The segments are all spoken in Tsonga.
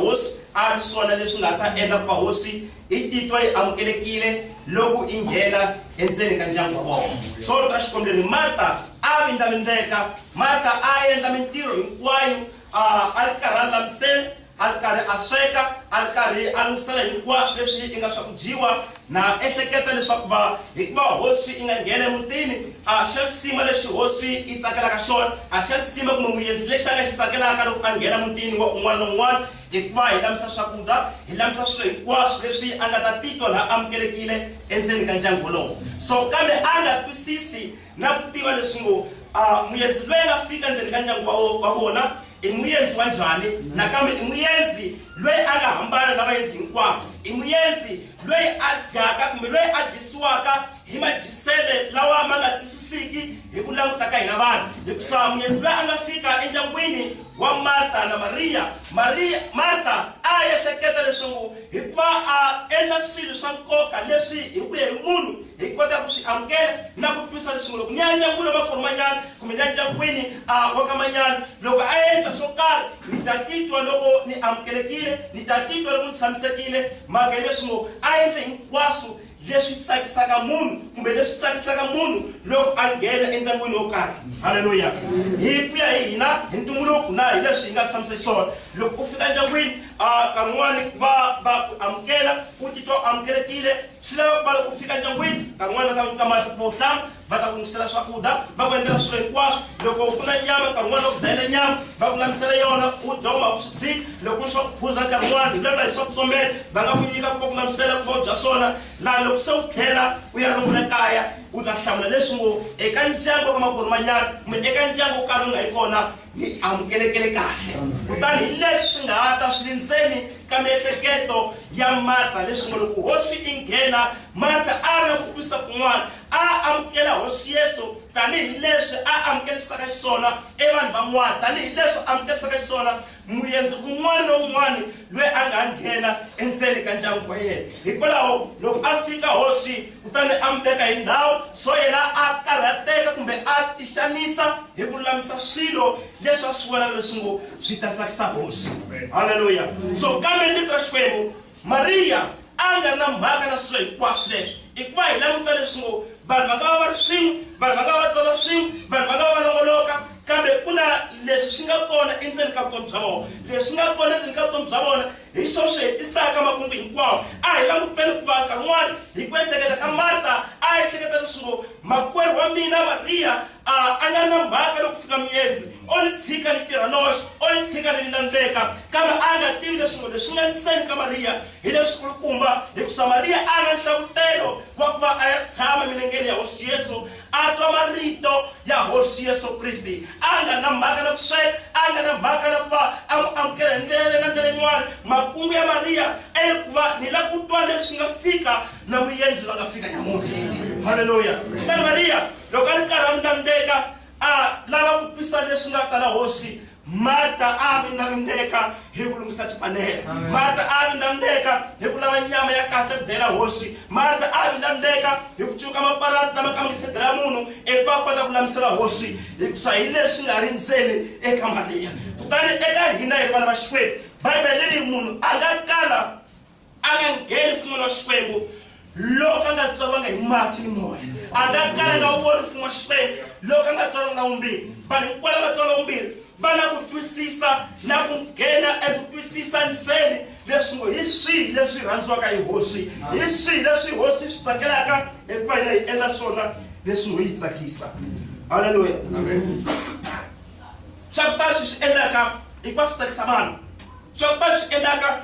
Hosi a ri swona leswi nga ta endla ku va hosi i titwa yi amukelekile loko i nghena endzeni ka ndyangu wa vona. Solo ra xikombi ri ri, Marta a vindlavindzeka. Marta a a endla mintirho hinkwayo, a a ri karhi a lulamisela, a ri karhi a sweka, a ri karhi a lunghisela hinkwaswo leswi inga swa ku dyiwa. Na ha ehleketa leswaku va, hikuva hosi yi nga nghena emutini, a xa nsima lexi hosi yi tsakelaka xona, a xa nsima kumbe muendzi lexi a nga xi tsakelaka loko a nghena mutini wa un'wana na un'wana, hikuva hi lamisa swakudya, hi lamisa swilo hinkwaswo leswi a nga ta titwa la amukelekile endzeni ka ndyangu wolowo. So, kambe a nga twisisi. na ku tiva leswi ngo, A muendzi loyi a nga fika endzeni ka ndyangu wa, wa vona i muendzi wa njhani, nakambe i muendzi loyi a nga hambana na vaendzi hinkwavo, i muendzi loyi a dyaka kumbe loyi a dyisiwaka hi madyisele lawa ma nga twisisiki hi ku languta ka hina vanhu hikusa muendzi loyi a nga fika endyangwini wa marta na mariya mariya marta a ehleketa leswaku Hikuva a endla swilo swa nkoka leswi hi ku ya hi munhu hi kotaka ku swi amukela na ku twisa nxungu. Loko ni ya endyangwini wa makwerhu manyana kumbe ni ya endyangwini wa ka manyana, loko a endla swo karhi ni ta titwa loko ni amukelekile, ni ta titwa loko ni tshamisekile. Mhaka hileswi ngo a endle hinkwaswo leswi tsakisaka munhu kumbe leswi tsakisaka munhu loko a nghena endyangwini wo karhi halleluya hi ku ya hi hina hi ntumbuluko na hi leswi hi nga tshamise xona loko u fika endyangwini a kan'wani va va ku amukela u titwa u amukelekile swi lava ku va loko u fika endyangwini kan'wani va ta ku nyika mati ku bohlanga va ta ku lunghisela swakudya va ku endlela swilo hinkwaswo loko ku na nyama nkarhi wun'wana va ku dlayela nyama va ku lamisela yona u dya uma u swi tshiki loko ku ri swa ku phuza nkarhi wun'wana vulavula hi swa ku tsomela va nga ku nyika ku va ku lamisela ku va u dya swona laha loko se u tlhela u ya rungula kaya u ta hlamula leswi ngo eka ndyangu wa ka makwerhu manyana kumbe eka ndyangu wo karhi u nga yi kona mi amukelekele kahle kutani hi leswi swi nga ha ta swi ri ndzeni ka miehleketo ya marta leswi ngo loko hosi yi nghena marta a ri na ku twisa kun'wana a amukela hosi yesu tanihi leswi a amukelisaka xiswona evanhu van'wana tanihi leswi amukelisaka xiswona muyenzi un'wana na un'wana loyi a nga nghena endzeni ka ndyangu wa yena hikwalaho loko a fika hosi kutani a mi teka hi ndhawu so yena a karhateka kumbe a tixanisa hi ku lulamisa swilo leswi a swi vona leswi ngo swi ta tsakisa hosi halleluya so kambe ni ka xikwembu mariya a nga ri na mhaka na swilo hinkwaswo leswi hikuva hi languta leswi ngo vanhu va nga va va ri swin'we vanhu va nga va va tsona swin'we vanhu va nga va va longoloka Kambe ku na leswi swi nga kona endzeni ka vutomi bya vona. Leswi swi nga kona endzeni ka vutomi bya vona hi swona swi hetisaka makungu hinkwawo. A hi languteni ku va nkarhi wun'wana hi ku ehleketa ka Marta, a a ehleketa leswi ngo, Makwerhu wa mina Mariya a a nga ri na mhaka loko ku fika miendzi, o ni tshika ni tirha noxe, o ni tshika ni landzeka. Kambe a a nga tivi leswi ngo, leswi nga ndzeni ka Mariya hi leswi kulukumba, hikusa Mariya a a na nhlavutelo wa ku va a ya tshama emilengeni ya Hosi Yesu, a twa marito ya hosi yesu kriste a nga na mhaka na ku sweka a nga na mhaka na ku va a n'wi amukela hi ndlela na ndlela yin'wana makungu ya mariya ene ku va ni la ku twa leswi nga fika na muyenzi va nga fika nyamuti halleluya kutani mariya loko a ri karhi a ndlandeka a lava ku twisa leswi nga ta la hosi Marta a a vindlavindeka hi ku lunghisa tipanela. Marta a a vindlavindeka hi ku lava nyama ya kahle ku dela hosi. Marta a a vindlavindeka hi ku cuka mapalati lama kangisidzela munhu ivi va kota ku lamisela hosi hikusa hi leswi nga ri ndzeni eka Mariya. Kutani eka hina hi ri vana va Xikwembu, Bibele ri munhu a nga kala a nga ngheni mfumo wa xikwembu loko a nga tswariwanga hi mati ni moya a nga kalanga wu voni mfumo wa xikwembu loko a nga tswariwanga na wumbirhi vanhu hinkwala va tswariwa wumbirhi va na ku twisisa na ku nghena eku twisisa ntseni leswi ngo hi swihi leswi rhandziwaka hi hosi hi swihi leswi hosi swi tsakelaka hikuva yina yi endla swona leswi ngo yi tsakisa halleluya swa ku tala swi swi endlaka hikuva swi tsakisa vanhu swa ku tala swi endlaka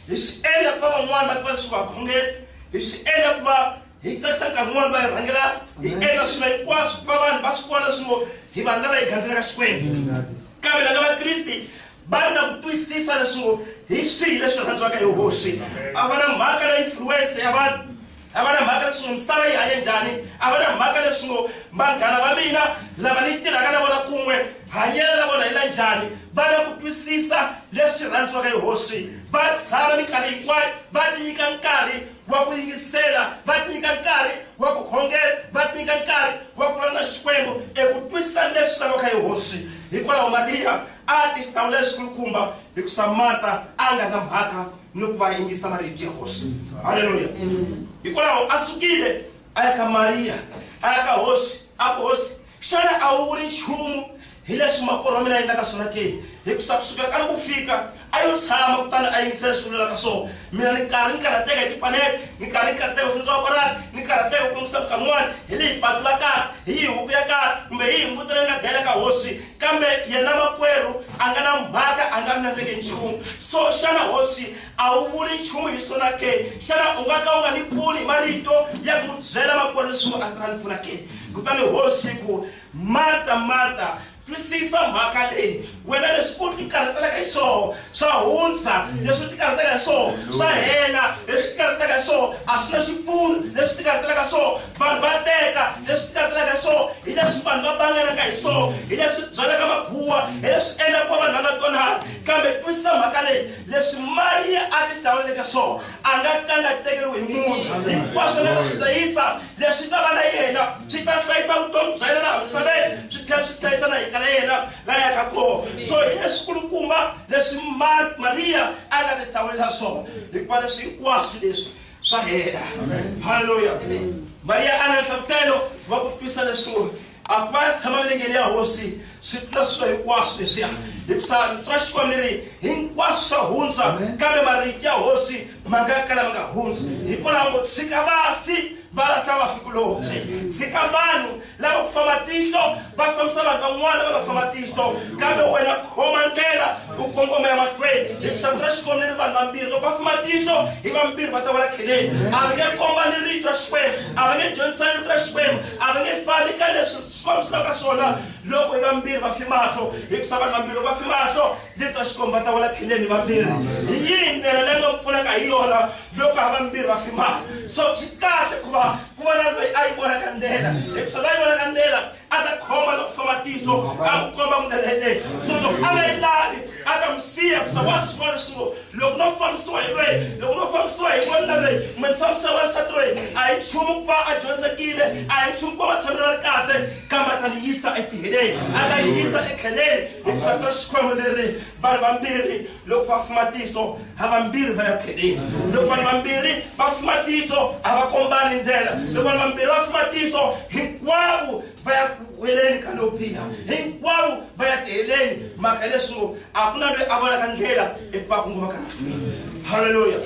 hi swi endla ku va van'wana va tiva leswaku ha khongela hi swi endla ku va hi tsakisa nkarhi wun'wana va hi rhangela hi endla swilo hinkwaswo ku va vanhu va swi vona swi ngo hi vanhu lava hi gandzelaka xikwembu kambe laka vakriste va ri na ku twisisa leswi ngo hi swihi leswi rhandziwaka hi hosi a va na mhaka na influence ya vanhu A va na mhaka leswi ngo misava yi hanye njhani, a va na mhaka leswi ngo vanghana va mina lava ni tirhaka na vona kun'we hanyelo ra vona hi la njhani. Va na ku twisisa leswi rhandziwaka hi Hosi. Va tshama minkarhi hinkwayo va tinyika nkarhi wa ku yingisela, va tinyika nkarhi wa ku khongela, va tinyika nkarhi wa ku vulavula na Xikwembu eku twisisa leswi laviwaka hi Hosi. Hikwalaho Mariya a tihlawulela xikulukumba hikusa Marta a nga na mhaka. ni ku va yingisa va ri dya hosi halleluya hikwalaho a sukile a ya ka mariya a ya ka hosi a ku hosi xana a wu ri nchumu hi leswi makwerhu wa mina a endlaka swona ke hikusa kusukela ka ri ku fika a yo tshama kutani a yingisela leswi vulelaka swona mina ni karhi ni karhateka hi tipanele ni karhi ni karhateka swi tswa parani ni karhateka ku lungisela mukhamu wani hi leyi patu la kahle hi yi huku ya kahle kumbe hi yi mbuti leyi nga dela ka hosi Kambe yena makwerhu a nga na mhaka, a nga ri na ndleke nchumu. So xana hosi a wu vuli nchumu hi swona ke? Xana u nga ka u nga ni pfuni hi marito ya ku n'wi byela makwerhu leswi a nga ni pfuna ke? Kutani hosi yi ku, Marta, Marta, twisisa mhaka leyi, wena leswi u tikarhatelaka hi swona swa hundza, leswi u tikarhatelaka hi swona swa hela, leswi u tikarhatelaka hi swona a swi na xipfuno, leswi u tikarhatelaka hi swona vanhu va teka leswi tikatelaka hi swona hi leswi vanhu va banganaka hi swona hi leswi byalaka maguwa hi leswi endlaka ku va vanhu va nga twanani kambe twisisa mhaka leyi leswi mali ya ake xi tawuleleke swona a nga ka nga tekeriwi hi munhu hinkwaswo nga ta swi hlayisa leswi ta va na yena swi ta hlayisa vutomi bya yena laha misaveni swi tlhela swi hlayisa na hika la yena la yaka kona so hi leswikulukumba leswi mariya a nga ti hlawulela swona hikuva leswi hinkwaswo leswi swa hela halleluya mariya a na nhlavutelo wa ku twisa leswiku a ku va tshama milengeni ya hosi swi tlula swilo hinkwaswo leswiya hikusa twa xikwani leri hinkwaswo swa hundza kambe marito ya hosi ma nga kala ma nga hundzi hikwalaho ngo tshika vafi va lahla vafi kulobye tshika vanhu lava ku famba tihlo va fambisa vanhu van'wana va va famba tihlo kambe wena khoma ndlela u kongoma ya mahlweni hi ku xangu ra xikwembu ni vanhu vambirhi loko va famba tihlo hi vambirhi va ta wela kheleni a va nge komba ni rito ra xikwembu a va nge dyondzisani rito ra xikwembu a va nge fambi ka leswi xikwembu swi lavaka swona loko hi vambirhi va fimahlo hi ku sa vanhu vambirhi loko va fimahlo rito ra xikwembu va ta wela kheleni hi vambirhi hi yini ndlela leyi nga pfunaka hi yona loko ha vambirhi va fimahlo so swi kahle ku va ku va na loyi a yi vonaka ndlela hikuva loyi a yi vonaka ndlela a ta khoma loko famba tihlo a ku komba ndlela yeleyo so loko a nga yi lavi a ta n'wi siya hikuva wa swi vona leswi ngo loko no fambisiwa hi loyi loko no fambisiwa hi vona loyi kumbe ni fambisa wansati loyi a hi nchumu ku va a dyondzekile a hi nchumu ku va va tshamela ri kahle kambe a ta ni yisa etiheleni a ta yi yisa etlheleni hikuva ta xikwembu leri vanhu vambirhi loko va fuma tihlo havambirhi va ya khedeni loko vanhu vambirhi va fuma tihlo a va kombani ndlela loko vanhu vambirhi va fuma tihlo hinkwavo va ya ku weleni ka lowu biha hinkwavo va ya tiheleni mhaka leswo a ku na loyi a vonaka ndlela eku va ku ngoma ka nandlwini halleluya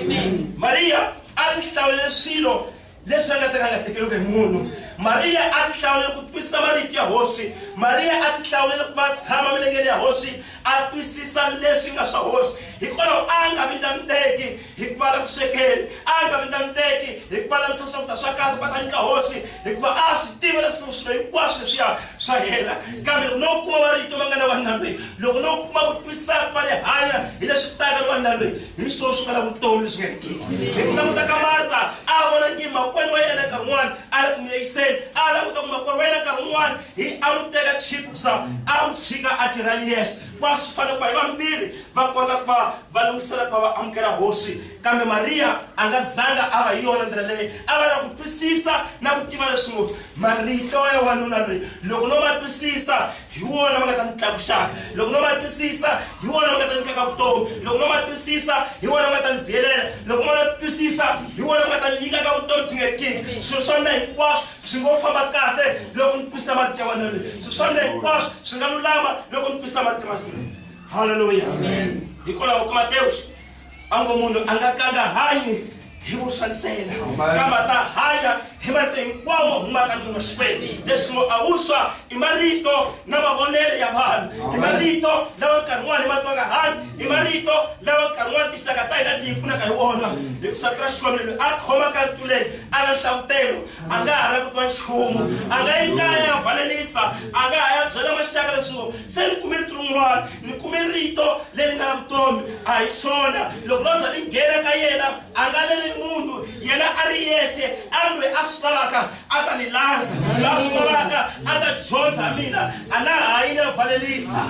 mariya a ti hlawulele swilo leswi a nga ta ka nga tekeriweke hi munhu mariya a ti hlawulele ku twisisa marito ya hosi mariya a ti hlawulele ku va tshama milengeni ya hosi a twisisa leswi nga swa hosi hikwalaho a nga vindlaniteki hikuva la ku swekeni a nga vindlaniteki hikuva lavisa swakudya swa kahle va ta nyika hosi hikuva a swi tiva leswi swilo hinkwaswo leswiya swa hela kambe loko no kuma marito ma nga na wanuna lweyi loko no kuma ku twisisa ku va le hanya hi leswi taka ni wanuna lweyi hi swona swi nga na vutomi leswi nga hetiki hi ku languta ka marta a vona ngi makwenu wa yena nkarhi wun'wana a la ku miyayiseni a languta ku makwenu wa yena nkarhi wun'wana hi a n'wi teka chipu kusa a n'wi tshika a tirha ni yexe va swi fanele ku va hi vambirhi va kota ku va va lunghisela ku va va amukela hosi kambe mariya a nga zanga a va hi yona ndlela leyi a va na ku twisisa na ku tiva leswi ngo marito ya wanuna loyi loko no ma twisisa hi wona va nga ta ni tlakusaka loko no ma twisisa hi wona va nga ta nyikaka vutomi loko no ma twisisa hi wona va nga ta ni biyelela loko ma na twisisa hi wona va nga ta nyikaka vutomi byi nga kini swilo swa mina hinkwaswo swi ngo famba kahle loko ni twisisa mati ya wena leyi swilo swa mina hinkwaswo swi nga lulama loko ni twisisa mati ya wena halleluya hikwalaho ka matewuxi a ngo munhu a nga kanga hanyi hi vuswa ntsena kambe a ta hanya hi marito hinkwawo humaka ndluna xikwembu leswi ngo a vuswa i marito na mavonelo ya vanhu i marito lawa nkarhi wun'wana hi ma twaka hanyi i marito lawa nkarhi wun'wana tinxaka ta hina ti hi pfunaka hi wona hi ku satura xikwembu loyi a khomaka ntuleni a na nhlavutelo a nga ha ra ku twa nchumu a nga yi kaya ya valelisa a nga ha ya byela maxaka leswi ngo se ni kume rito rin'wana mi kume rito leri nga vutomi a hi swona loko no za ni nghena ka yena a nga lele munhu yena a ri yexe a ri loyi a swi lavaka a ta ni landza la swi lavaka a ta dyondza mina a na ha yi ni valelisa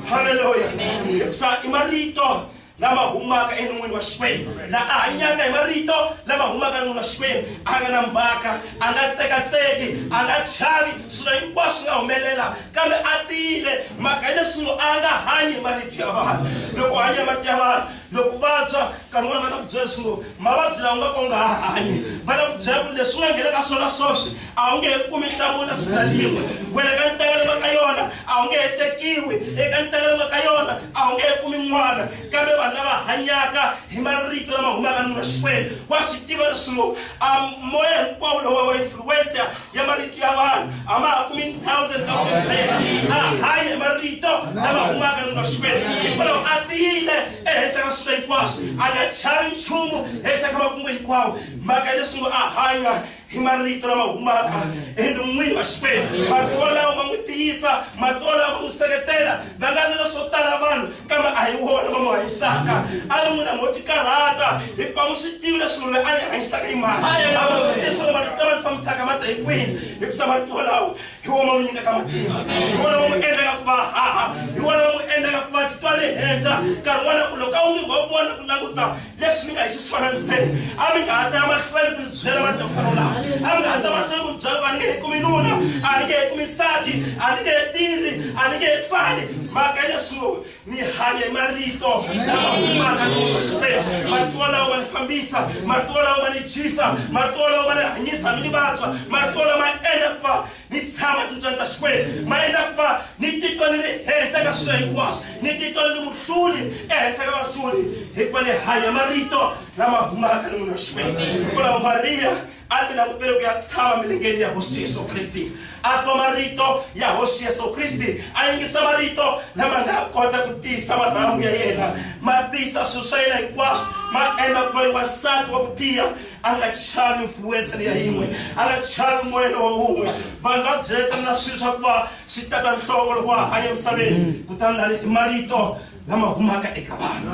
halleluya hikusa i marito lama humaka enon'wini wa xikwembu la a hanyaka hi marito lama humaka enon'wini wa xikwembu a nga na mbaka a nga tsekatseki a nga chavi swilo hinkwaswo swi nga humelela kambe a tiyile mhaka hi leswi ngo a nga hanyi hi marito ya vanhu loko u hanya marito ya vanhu loko u vabya nkarhi wun'wana va na ku byela leswi ngo mavabyi lawa nga ka u nga ha hanyi va na ku byela ku leswi u nga nghenaka swona swoswi a wu nge he kumi nhlawula siku na rin'we wena ka ntekelo va ka yona a wu nge he tekiwi eka ntekelo va ka yona a wu nge he kumi n'wana kambe vanhu lava hanyaka hi marito lama humaka nuna xikwembu wa swi tiva leswilo a moya hinkwawo lowa wa influensa ya marito ya vanhu a ma ha kumi ndhawu ndzeni ka vutomi bya yena a hanya hi marito lama humaka nuna xikwembu hikwalaho a tiyile ehenhla ka swilo hinkwaswo a nga chavi nchumu ehenhla ka makungu hinkwawo mhaka leswi ngo a hanya hi marito lama humaka enon'wini wa xikwembu marito lawa ma n'wi tiyisa marito lawa ma n'wi seketela va nga vela swo tala vanhu kambe a hi wona va n'wi hanyisaka a ri n'wina mo ti karhata hikuva n'wi swi tivi leswi munhu loyi a ni hanyisaka yi mani a va swi tivi swona marito lama ni fambisaka ma ta hi kwini hikusa marito lawa hi wona ma n'wi nyikaka matimba hi wona va n'wi endlaka ku va haha hi wona va n'wi endlaka ku va titwa ri henhla nkarhi wona ku loko a wu nge wa vona ku languta leswi mi nga hi xiswona ntseni a mi nga ha ta mahlweni ku swi byela madofaro lawa a mi nga ha ta mahlweni ku byela ku a ni nge he kumi nuna a ni nge he kumi nsati a ni nge he tirhi a ni nge he pfali mhaka leswo ni hanya hi marito lama humaka loxikwembu marito lawo ma ni fambisa marito lawo ma ni dyisa marito lawo ma ni hanyisa mi ni vatswa marito lama endla ku va Ni tshama tintswani ta Xikwembu, ma endla ku va ni titwa ni ri ehenhla ka swilo hinkwaswo, ni titwa ni ri muhluli ehenhla ka vahluli, hikuva ni hanya marito lama humaka ni munhu wa Xikwembu. Hikwalaho Mariya a ti langutele ku ya tshama milengeni ya Hosi Yesu Kriste, a twa marito ya Hosi Yesu Kriste, a yingisa marito lama nga kota ku tiyisa marhambu ya yena, ma tiyisa swilo swa yena hinkwaswo, ma endla ku va ni wansati wa ku tiya. a nga chavi influencer ya yin'we a nga chavi moyelo wa wun'we vanhu va byeleta na swilo swa ku va swi tata nhloko loko wa hanya emisaveni mm. kutani lani i marito lama humaka eka vanhu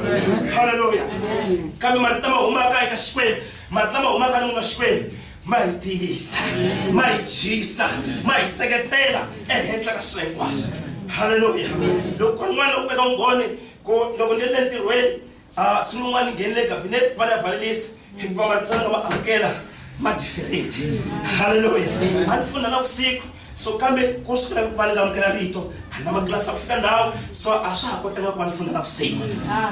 halleluya kambe marito lama humaka eka xikwembu marito lama humaka ni n'wina xikwembu ma hi tiyisa ma hi dyisa ma hi seketela ehenhla ka swilo hinkwaswo halleluya loko ku ri n'wana loko eka ungone ku loko ni le ntirhweni A swi n'wi n'wana nghenile cabinet va na valelisi hikuva marito lama amukela ma different haleluya a ni funda na vusiku so kambe ku sukela ku va ni nga amukela rito a na matlilasi a ku fika ndhawu so a swa ha kotanga ku va ni funda na vusiku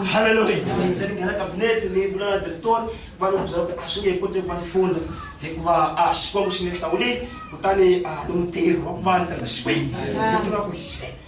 haleluya se ni nghena cabinet ni vula na directori va ni byela ku a swi nge he koti ku va ni funda hikuva a xikwembu xi ni hlawulile kutani a ni mutirhi wa ku va ni tirha xikwembu director a ku xe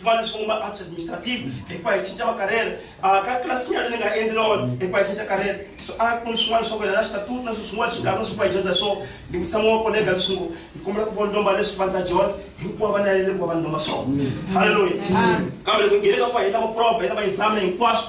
va leswi va ma arts administrative hikuva hi cinca makarhele ah, ka tlilasini yale ni nga endli lona hikuva hi cinca karhele so a ah, ku ni swin'wana swa ku yelana xitatuti na swi swin'wana swi nga na swi va hi dyondza hi swona ni vutisa n'wana wa kolega leswi ngo ni kombela ku vona lomba leswi vanhu ta dyondza hinkwavo va nalele ku va vanhu lomba swona halleluya kambe loko nghene ka ku va hi lava proba hi lava examina hinkwaswo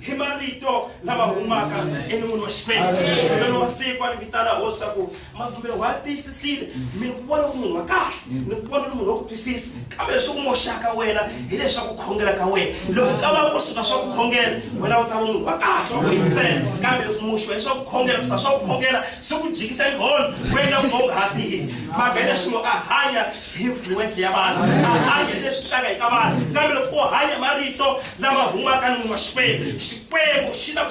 hi marito lama humaka enon'wini wa xikwembu kutani wa siku a ni vitana hosi swa ku mavhumbelo wa tiyisisile mi ni ku vona ku munhu wa kahle ni ku vona ni munhu wa ku twisisa kambe leswi ku moxaka wena hileswaku khongela ka wena loko ka va ku suka swa ku khongela wena u ta va munhu wa kahle wa ku yingisela kambe leswi muxiwa leswaku khongela kusa swa ku khongela swi ku jikisa nqhondo wena u nga ha tihi mhaka hileswi a hanya hi influence ya vanhu a hanyi leswi tlanga hi ka vanhu kambe loko u hanya marito lama humaka ni munhu wa xikwembu xikwembu xi ta ku